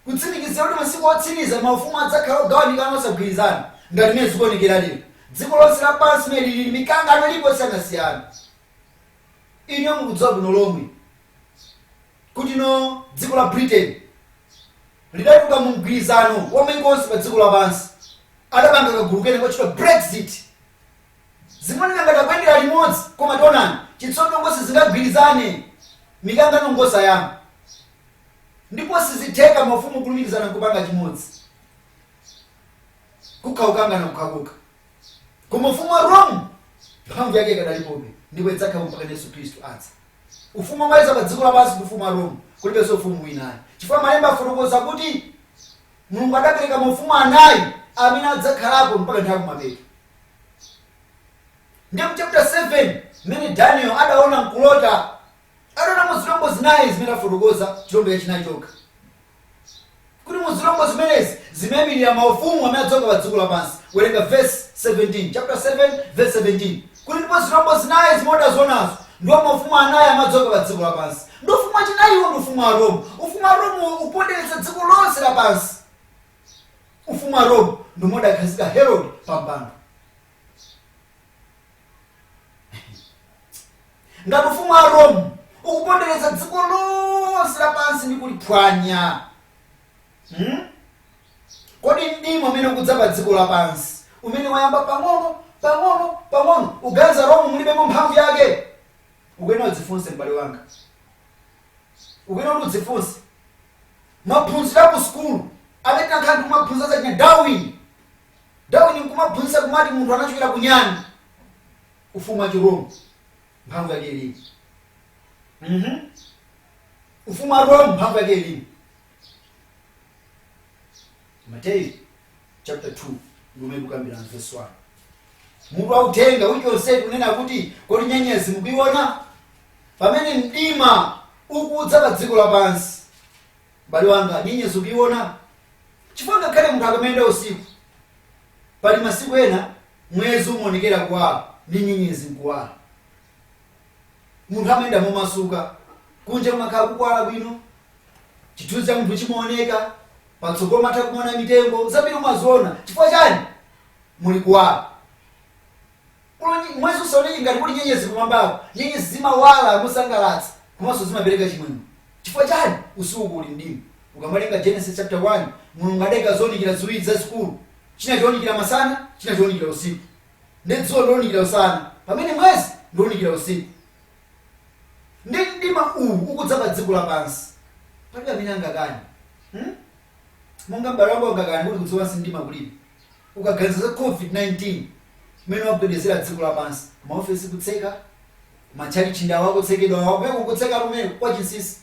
kutsimikiza kuti masiku otsiriza maufumu adzakhala ogawanikana, osagwirizana, ngati mmene zikuonekera lero. Dziko lonse lapansi mmene lilili, mikangano ilipo yosiyanasiyana. Inuyo mukudziwa bwino lomwe kuti no dziko la Britain lidatuluka mu mgwirizano wa maiko onse pa dziko lapansi, adapanga kagulu kena kotchedwa Brexit. Zimaoneka ngati akuyendera limodzi, koma taonani, chitsulo dongo sizingagwirizane, mikangano ngosayamba. ndipo sizitheka mafumu kulumikizana nkupanga chimodzi kukha kukangana kukhakukha koma ufumu wa rome mphamvu yake ikadalipobe ndipo idzakhala mpaka yesu khristu adza ufumu omaliza pa dziko lapansi ndi ufumu wa rome kulibenso ufumu wina ayi chifukwa malemba afotokoza kuti mulungu adapereka maufumu anayi amene adzakhalapo mpaka nthawi kumapeto ndi mchapter 7 mmene daniel adaona mkulota Adaona mu zilombo zinayi zimene tafotokoza, chilombo chachinayi chokha, kuti mu zilombo zimenezi zimaimilira maufumu amene adzauka pa dziko lapansi. Werenga vesi 17, chaputala 7 vesi 17, kuti, Ndipo zilombo zinayi zimene udazionazo ndiwo maufumu anayi amene adzauka pa dziko lapansi, ndi ufumu wachinayiwo ndi ufumu wa Rome. Ufumu wa Rome ukupondereza dziko lonse lapansi. Ufumu wa Rome ndi umene udakhazika Herode pa mpando. ngati ufumu wa rome ukupondereza dziko lonse lapansi ndi kuliphwanya hmm? kodi mdima umene ukudza pa dziko lapansi umene wayamba pang'ono pang'ono pang'ono uganiza rome mulibemo mphamvu yake ukuyenera udzifunse m'bale wanga ukuyenera kuti udzifunse maphunziro a ku sukulu amene tinakhala ndikumaphunzira za china Darwin Darwin nkumaphunzitsa kumati munthu anachokera ku nyani, ufumu wa chi Rome mphamvu yake ilimo. mmh ufumu wa Rome mphamvu yake ilimo. Mateyu chapter 2 ndi umene tikukambirana verse 1. Mutu wa uthenga wiki yonseyi tikunena kuti kodi nyenyezi mukuiona? Pamene mdima ukudza pa dziko lapansi, M'bale wanga, nyenyezi ukuiona? Chifukwa ngakhale munthu akamayenda usiku, pali masiku ena mwezi umaonekera kuwala ndi nyenyezi n'kuwala. Munthu amayenda momasuka, kunja kumakhala kukuwala bwino, chithunzi cha munthu chimaoneka, patsogolo umatha kumaona mitengo, zambiri umaziona. Chifukwa chani? Muli kuwala. Kuno nyi, mwezi usaoneke ngati kuli nyenyezi kumwambako. Nyenyezi zimawala mosangalatsa komanso zimapereka chimwemwe. Chifukwa chani? Usiku kuli mdima. Ukawerenga Genesis chapter 1, Mulungu adaika zounikira ziwiri zazikulu. China chounikira masana, china chounikira usiku. Nde dzuwa ndounikira usana, pamene mwezi ndounikira usiku. Nde mdima uwu ukudza pa dziko lapansi. Palibe amene angakane. Hmm? Monga m'bale wanga angakane kuti kudziko lapansi mdima kulibe. ukaganiza za covid 19 mmene wagwedezera dziko lapansi, ma ofesi kutseka, ma tchalitchi ndi awa akutsekedwa awa, kumene kukutsekatu kumeneku kwa chinsinsi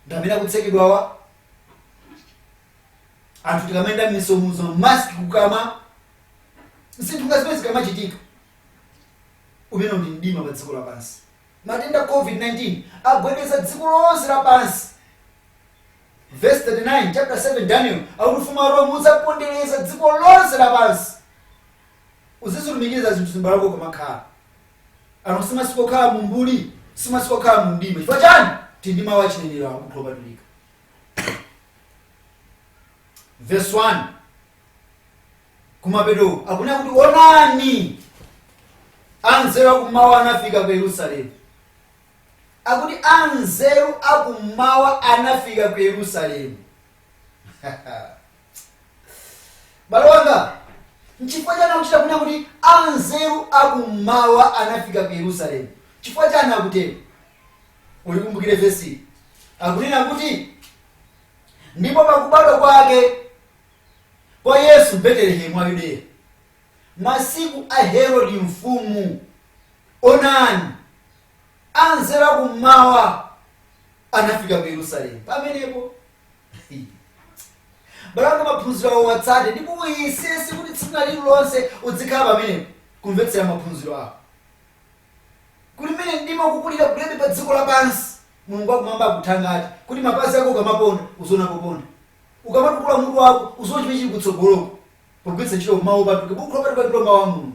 ndi amene akutsekedwawa, anthu tikamayenda mmisewumu mask kukamwa, zinthu ngati zimenezi zikamachitika, umenewu ndi mdima pa dziko lapansi. Matenda COVID-19 agwedeza dziko lonse lapansi Vesi 39, chapter 7 Daniel akuti ufumu wa Rome udzapondereza dziko lonse lapansi uzizilumikiza zinthuzi m'bale wanga ukamakhala ano si masiku okhala mu mbuli si masiku okhala mu mdima chifukwa chani tili ndi mawu achinenero a buku lopatulika verse 1 kumapeto akunena kuti onani anzeru akummawa anafika ku yerusalemu akuti anzeru akummawa anafika ku yerusalemu m'bale wanga nchifukwa chani akuchita kunena kuti anzeru akummawa anafika ku yerusalemu chifukwa chani akutero ulikumbukire vesi akunena kuti ndipo pakubadwa kwake kwa Yesu m'Betelehemu wa Yudeya, masiku a Herode mfumu, onani, anzeru a kum'mawa anafika ku Yerusalemu pamenepo. m'bale wanga maphunziro awa uwatsate ndipo uyesetse kuti tsiku lina lililonse udzikhala pamenepo kumvetsera maphunziro awa kuti mmene mdima ukukulirakulirabe pa dziko lapansi mulungu wakumwamba akuthangate kuti mapazi ako ukamaponda uziona poponda ukamatukula mutu wako udziwe chimene chili kutsogoloko pogwiritsa ntchito mawu opatulika bukhu lopatulika mawu a mulungu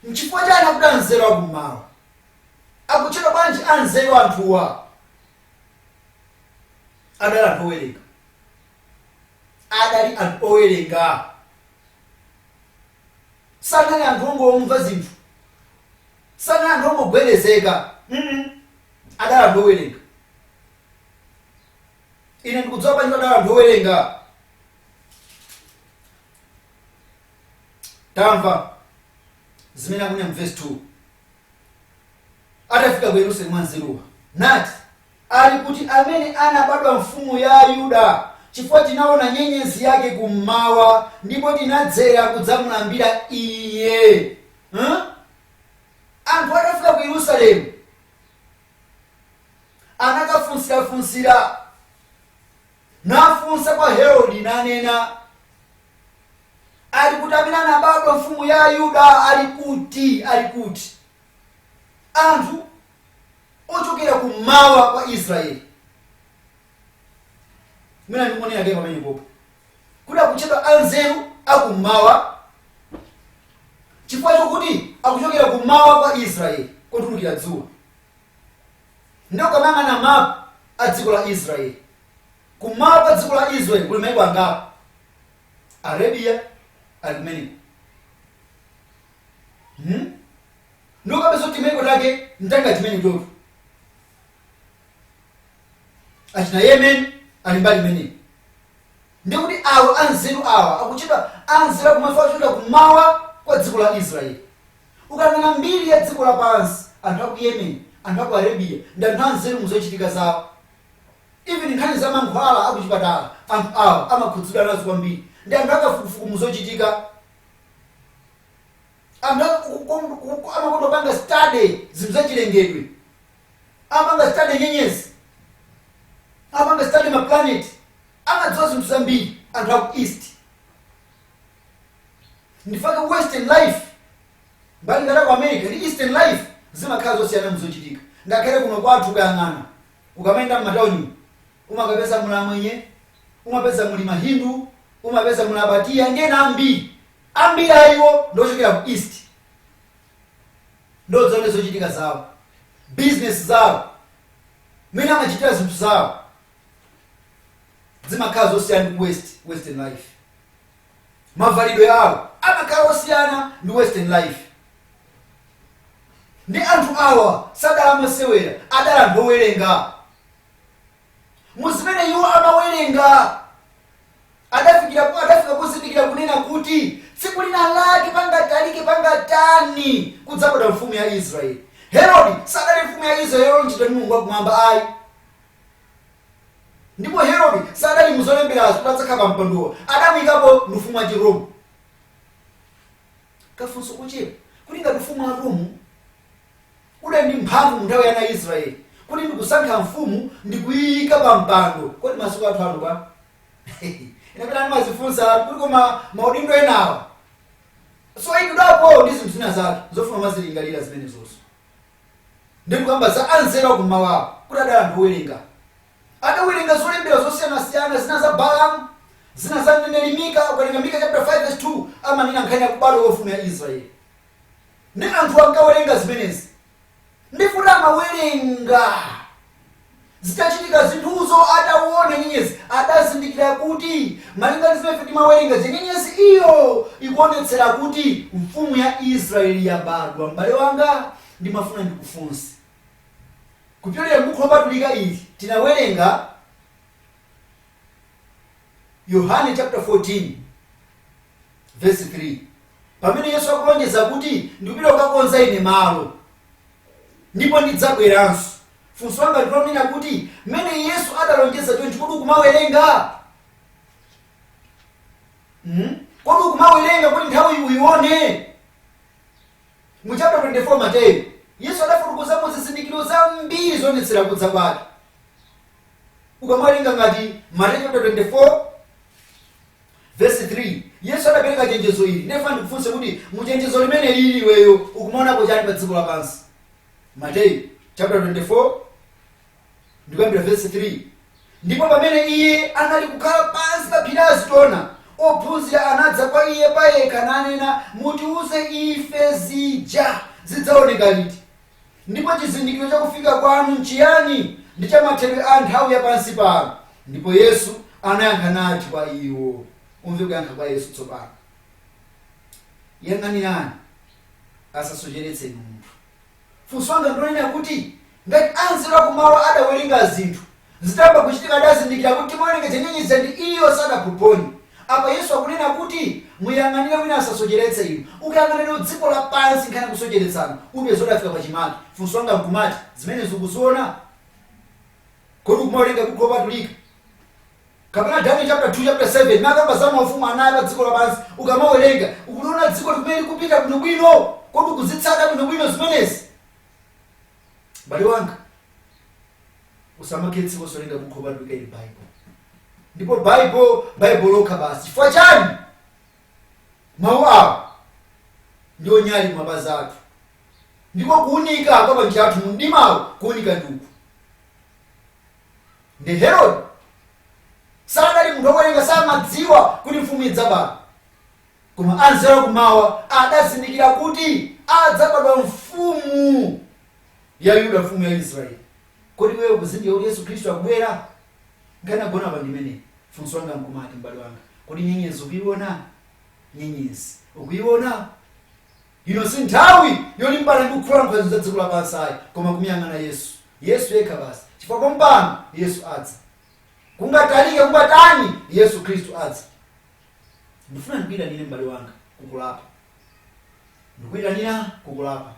nchifukwa chani akuti anzeru akummawa akutchedwa bwanji anzeru anthuwa adali anthu owerenga adali anthu owerenga sanali anthu ongomva zinthu sanali anthu ongogwedezeka Mm-mm. adali anthu owerenga ine ndikudziwa bwanji adali anthu owerenga tamva zimene akunena mu verse 2 atafika ku yerusalemu anzeruwa nati ali kuti amene anabadwa mfumu ya ayuda chifukwa tinaona nyenyezi yake kummawa ndipo tinadzera kudzamulambira iye huh? anthu atafika ku yerusalemu anakafunsirafunsira, nafunsa kwa Herodi, nanena, Ali kuti amene anabadwa mfumu ya Ayuda? Ali kuti? Ali kuti? Anthu ochokera kummawa kwa Israeli mwina ndikuonera ndiye pamene popo kuti akutchedwa anzeru akummawa chifukwa chokuti akuchokera kummawa kwa israeli kotulukira dzuwa ndiye ukamayang'ana mapu a dziko la israeli kummawa kwa dziko la israeli kuli maiko angapo arabia ali kumeneko hmm? ndiye ukapeza kuti maiko take ntanga chimene chotu achina yemen ali mbali imeneyi ndiye kuti awa anzeru awa akuchedwa anzeru akumawa kuchokera kumawa kwa dziko la israeli ukanena mbiri ya dziko lapansi anthu aku yemen anthu aku arabia ndi anthu anzeru muzochitika zawo even nkhani za mankhwala akuchipatala anthu awa amakhudzidwa nazo kwambiri ndi anthu akafukufuku muzochitika anthu aku- ku- ku- ku- amakonda kupanga study zinthu zachilengedwe amapanga study nyenyezi, amapanga study ma planet, amadziwa zinthu zambiri anthu aku east. Ndichifukwa chake western life mbali ngati ku America ndi eastern life zimakhala zosiyana muzochitika. Ngakhale kuno kwathu kuyang'ana ukamayenda m'matauni umakapeza muli amwenye, umapeza muli mahindu, umapeza muli abatiya ndi ena ambiri ambiri ayiwo ndi ochokera ku east ndiye zochitika zawo, bizinesi zawo, mmene amachitira zinthu zawo zimakhala zosiyana ndi west western life mavalidwe awo amakhala osiyana ndi western life ndiye anthu awa sadali amasewera adali anthu owerenga mu zimene iwo amawerenga adafikira adafika kuzindikira kunena kuti tsiku lina lake pangatalike pangatani kudzabadwa mfumu ya israeli herodi sadali mfumu ya israeli yolonjezedwa ndi mulungu wakumwamba ayi ndipo herodi sadali muzolemberazo kuti adzakhala pa mpandowo adamuyikapo ndi ufumu wa chiroma kafunso kuchepa kuti ngati ufumu wa roma Udali ndi mphamvu mu nthawi ya ana a Israele, kuti ndikusankha mfumu ndi kuiika pa mpando. Kodi masiku athu ano bwa? Ine pena ndimadzifunsa kuti koma maudindo enawa soyikidwapo ndi zinthu zina zake zofuna umazilingalira zimenezozo. Ndikukamba za anzeru akum'mawa kuti adali anthu owerenga. Adawerenga zolembera zosiyanasiyana, zina za Balamu, zina za mneneri Mika. Ukawerenga Mika chaputala 5 vesi 2 amanena nkhani ya kubadwa kwa mfumu ya Israele. nde anthuwa ankawerenga zimenezi nde poti amawerenga zitachitika zinthuzo adaona nyenyezi adazindikira kuti malinga ndi zimene timawerenga zija nyenyezi iyo ikuonetsera kuti mfumu ya israeli yabadwa m'bale wanga ndimafuna ndikufunse kupyolera m'buku lopatulika ili tinawerenga Yohane chapter 14 verse 3 pamene yesu akulonjeza kuti ndikupita kukakonzera inu malo ndipo ndidzabweranso funso langa likunena kuti mmene yesu adalonjeza chonchi kodi ukumawerenga mm? kodi ukumawerenga kuti nthawi uyione mu chapter 24 mateyu yesu adafotokozamo zizindikiro zambiri zoonetsera kudza kwake ukamawerenga ngati mateyu chapter 24 vesi 3 yesu adapereka chenjezo ili nde ndifuna ndikufunse kuti muchenjezo limeneli iweyo ukumaonapo chani pa dziko lapansi mateyu chapter 24 ndikuyambira vesi 3 ndipo pamene iye anali kukhala pansi pa phiri azitona ophunzira anadza kwa iye payekha nanena mutiuze ife zija zidzaoneka liti Ndipo chizindikiro cha kufika kwanu nchiyani, ndi cha mathero a nthawi ya pansi pano? Ndipo Yesu anayankha nati kwa iwo. Umve kuyankha kwa Yesu tsopano. Yang'anirani, asasocheretseni munthu. Funso langa ndilonena kuti, ngati anzeru akumawa adawerenga zinthu, Zitayamba kuchitika adazindikira kuti timawerenga za nyenyezi ija ndi iyo sadaphophonye. Apa Yesu akunena kuti muyang'anire wina asasocheretse inu. Ukayang'ana lero dziko lapansi nkhani ya kusocheretsana upeza kuti yafika pachimake. Funso langa nkumati zimenezi ukuziona? Kodi ukumawerenga bukhu lopatulika? Kapena Daniel chapter 2 chapter 7 imene akamba za maufumu anayi a pa dziko lapansi ukamawerenga ukuliona dzikoli kumene likupita bwinobwino? Kodi ukuzitsata bwinobwino zimenezi? M'bale wanga, usamakhale osawerenga buku lopatulika ili Baibulo. Ndipo Baibulo, Baibulo lokha basi. Chifukwa chani? Mawu awa ndiwo nyali mapazi athu. Ndiko kuunika kwa panjira pathu mu mdimawu kuunika ndi uku. Nde Herode sadali munthu wowerenga samadziwa kuti mfumu idzabadwa. Koma anzeru a Kum'mawa adazindikira kuti adzabadwa mfumu ya Yuda, mfumu ya Israeli. Kodi iweyo ukuzindikira kuti Yesu Khristu akubwera? Nkhani yagona apa ndi imeneyi. Funso langa nkumati, m'bale wanga, kodi nyenyezi ukuiona? Nyenyezi ukuiona? Ino si nthawi yolimbana ndi kulankhula zinthu za dziko lapansi ayi, koma kumuyang'ana Yesu. Yesu yekha basi. Chifukwa pompano Yesu adza. Kungatalike kungatani, Yesu Khristu adza. ndifuna ndikuyitanire m'bale wanga kukulapa ndikuyitanira kukulapa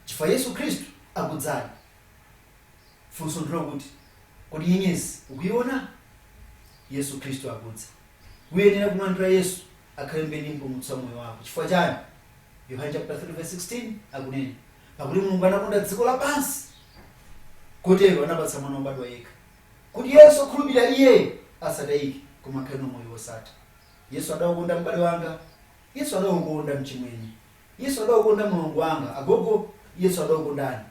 chifukwa yesu khristu akudzadi funso ndilo kuti kodi nyenyezi ukuyiona yesu khristu akudza uyenera kumlandira yesu akhale mbuye ndi mpulumutsi wa moyo wako chifukwa chani yohane chapter 3 verse 16 akunena pakuti mulungu anakonda dziko lapansi kotero anapatsa mwana wobadwa yekha kuti yense okhulupirira Iye asatayike, koma akhale nawo moyo wosatha. Yesu adakukonda m'bale wanga. Yesu adakukonda mchimwene. Yesu adakukonda mlongo wanga. Agogo, Yesu adakukondani.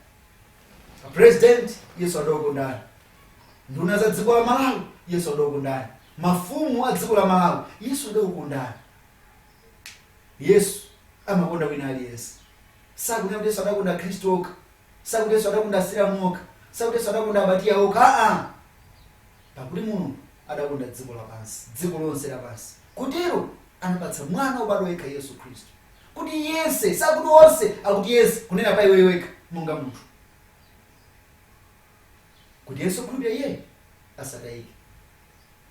A President, Yesu adakukondani. Nduna za dziko la Malawi, Yesu adakukondani. Mafumu a dziko la Malawi, Yesu adakukondani. Yesu amakonda wina aliyense. Sakunena kuti Yesu adakonda Akhristu okha, sakuti Yesu adakonda Asilamu okha, sakuti Yesu adakonda Abatiya okha, aa! Pakuti Mulungu adakonda dziko lapansi, dziko lonse lapansi, kotero anapatsa Mwana wobadwa yekha Yesu Khristu, kuti yense, sakuti onse, akuti yense, kunena pa iweyo wekha monga munthu, kuti yense okhulupirira Iye asatayike.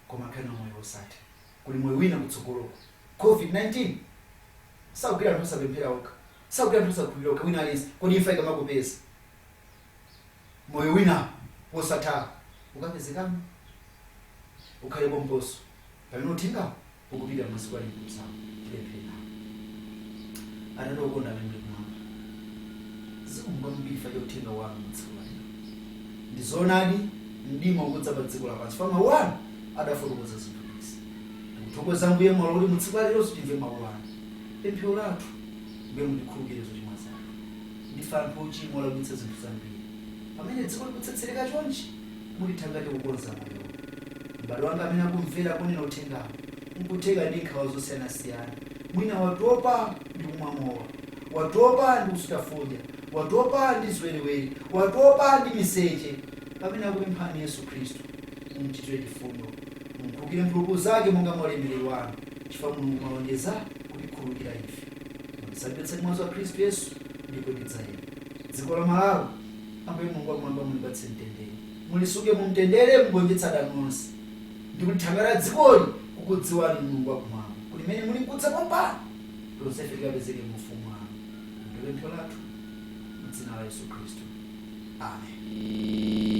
koma akhale nawo moyo wosatha kuli moyo wina kutsogoloko covid-19 sakugwira anthu osapemphera okha sakugwira anthu osakhulupirira okha wina aliyense kodi imfa ikamakupeza moyo wina wosatha ukapezekamo ukhale pomposo pamene uthengawo ukupita pansi kwa chikutsako tipemphere atate okonda amene muli kumwamba zikomo kwambiri chifukwa cha uthenga wanu mtsiku la lero ndi zoonadi mdima ukudza pa dziko lapansi chifukwa mawu anu adafotokoza zinthu izi tikuthokoza mbuye mwalola kuti mutsiku la leronso timve mawu anu pemphero lathu mbuye mutikhululukire zochimwa zathu ndife anthu ochimwa olakwitsa zinthu zambiri pamene dziko likutsetsereka chonchi mutithangate kukonza moyowu. M'bale wanga amene akumvera ponena uthengawu nkutheka ndi nkhawa zosiyanasiyana. Mwina watopa ndi kumwa mowa, watopa ndi kusuta fodya, watopa ndi ziwerewere, watopa ndi miseche. Pamene akupemphani Yesu Khristu, mumchitire chifundo. Mumkhululukire mphulupulu zake monga mwa ulemerero wanu, chifukwa Mulungu mwalonjeza kutikhululukira ife. Mwandisambitsa ndi mwazi wa Khristu Yesu, ndipo ndidzayera. Dziko la Malawi Ambuye Mulungu wakumwamba, mulipatse mtendere, mulisunge mumtendere, mugonjetse adani onse, ndi mulithangate dzikoli kukudziwani, Mulungu wakumwamba, kuti mmene mulinkudza pompano, tonsefe tikapezeke mu ufumu wanu. Ndi pempho lathu mu dzina la Yesu Khristu, amen.